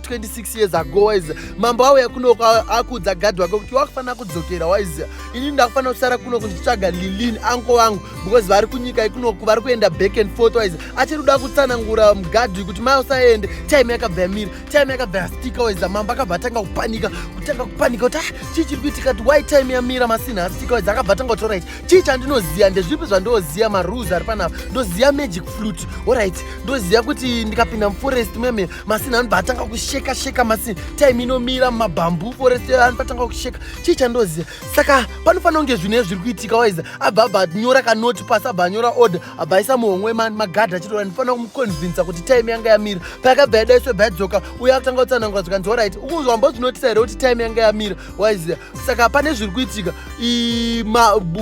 26 years ago waiziva mambo auya kunoko akuudza gadhi wake kuti wakufanira kudzokera waiziva inini ndakufanira kusara kuno kunditsvaga lilin anko vangu because vari kunyika ikunoku vari kuenda back and forth waiziva achiri kuda kutsanangura gadhi kuti mai usaende time yakabva yamira time yakabva yastika waiziva mambo akabva atanga kupanika kutanga kupanika kuti ah, chii chiri kuitika kuti why time yamira masinha astika waiziva akabva atanga kuti orit chii chandinoziva ndezvipi zvandinoziva marules ari panapa ndoziva magic flute orit ndoziva kuti ndikapinda muforest muyamira masini anobva atanga kusheka sheka masini time inomira mumabhambu forest anobva atanga kusheka chii chandoziva saka panofanira kunge zvinhu ezviri kuitika waiza abva abva nyora kanoti pasi abva anyora order abva aisa muhomwe magadhi achitora ndifanira kumuconvinsa kuti time yanga yamira payakabva yadaiswe bva yadzoka uye akutanga kutsanangura zvikanzi orit ukunzwa mbozvinotisa here kuti time yanga yamira waiza saka pane zviri kuitika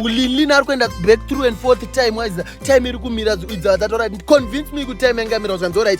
linlina ari kuenda back through and forth time waiza time iri kumira idza vatatorit convince me kuti time yanga yamira zvikanzi orit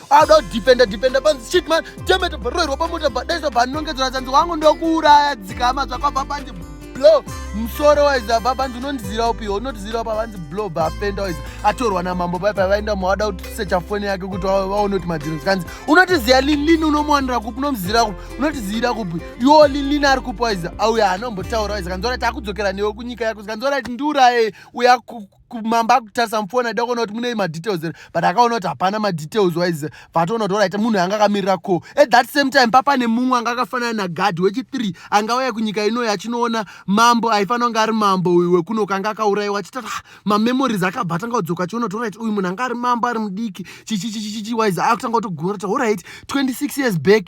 Ada kudhipenda dhipenda panzi shit man temeta bharoirwa pamota bhadaisa bhanongedzera dzanzi wangu ndokuuraya dzikama zvakabva panzi blow musoro waiza bva panzi unondizira upi unotizira upa vanzi blow bhafenda waiza atorwa namambo pai pai vaenda mawada kutisecha foni yake kuti vaone kuti madhiro zikanzi unotiziva linlin unomuwanira kupi unomuzira kupi unotiziyira kupi iwo linlin ari kupi waiza auya hanombotaura waiza kanzi orit akudzokera newe kunyika yako zikanzi orit ndiuraye uya kumamba akutarisa mufoni aida kuona kuti mune madetails here but akaona kuti hapana madetails wise vatoona kuti orit munhu anga akamirira ko at that same time papane mumwe anga akafanana nagard wechithree anga auya kunyika inoyi achinoona mambo aifanira kunge ari mambo uyu wekuno kanga akaurayiwa achitata ah, mamemories akabva atanga kudzoka achiona kuti orit uyu munhu anga ari mambo ari mudiki chichichichichichi wise akutanga kutogona kuti orit 26 years back